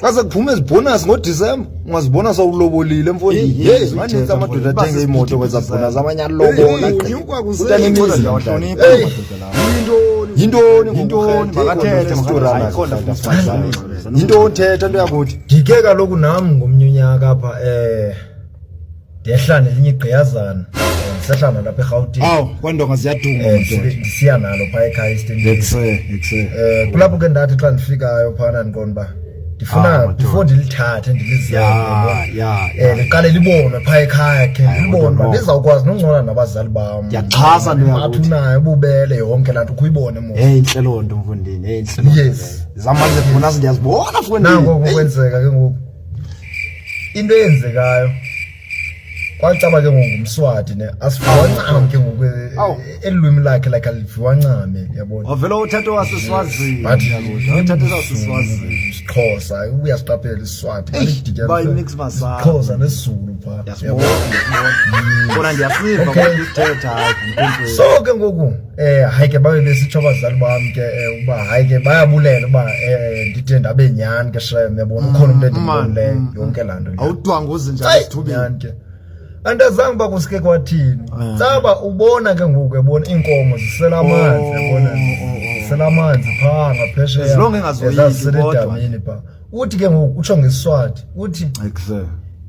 xa sekuphuma ezibhonasi ngodisemba ungazibona sawulobolile mfonimaninzi amadoda athenge imoto kwezabhonasi amanye alobolaayintoni thetha nto yakuthi ndike kaloku nam ngomnye unyaka apha um ndehla nelinye igqiyazana ndisehla nalo apha erhawutini awu kwandonga ziyaduma Eh, madoda ndisi- ndisiya nalo phaa ekhaya esitendini ekuse ekuse um kulapho ke ndathi xa ndifikayo phana ndiqonda uba Ah, ndifuna madoda. before ndilithathe ndilizele ya ya um ya liqale libonwe phaa ekhaya khe Hayi, libonwe kodwa uba no. ndizawukwazi noncona nabazali bam Ndiyaxhasa into yakuthi. Bathi unayo ububele yonke laa nto ukhuyibone mo heyi intle loo nto mfundini heyi intle loo nto Yes. leyo. zamanje funa ndiyazibona nango fundini ngokwenzeka ke ngoku into eyenzekayo kwacaba ke ngoku ngumswati ne asiviwancame ke ngoku elulwimi lakhe like aliviwancame yabona wavele uthatha waseswazini uthatha waseswazini isixhosa ubuya siqaphela isiswati bayinixmasixhosa nesizulu phaa kona ndiyasiva kodwa isithetha so ke ngoku Eh hayi ke babe besitsho abazali bam ke eh, uba hayi ke bayabulela uba eh ndide ndabe nyani ke shem yabona ukhona umuntu endimbuleyo mm, mm, yonke laa nto awudwanga uzinjani esithubeni ke andazange uba kusike kwathini eh. saba ubona ke ngoku ebona iinkomo zisela oh, amanzi yabona oh, oh, zisela amanzi phaa ngaphesheyaezilonge engazoyiki kodwa phaa uthi ke ngoku utsho ngesiswati uthi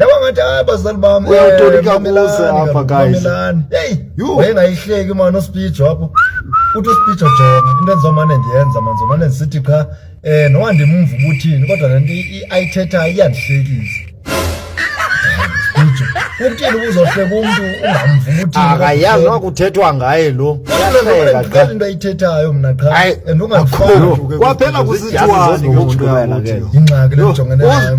Yabona ngathi hayi bazali bam. Uyawutolika eh, kuze apha guys. Hey, wayengayihleki man uSpeed wapho. Uthi uSpeed ojonga into endizomane ndiyenza man zomane ndisithi qha eh noba ndimumva ubuthini kodwa le nto ayithethayo iyandihlekisa. Kuthini ubuzohleka umntu ungamva ubuthini? Akayazi noba kuthethwa ngaye lo. Uyahleka into ayithethayo mna qha and ungafuni. Kwaphela kusithiwa ingxaki le ndijongene nayo.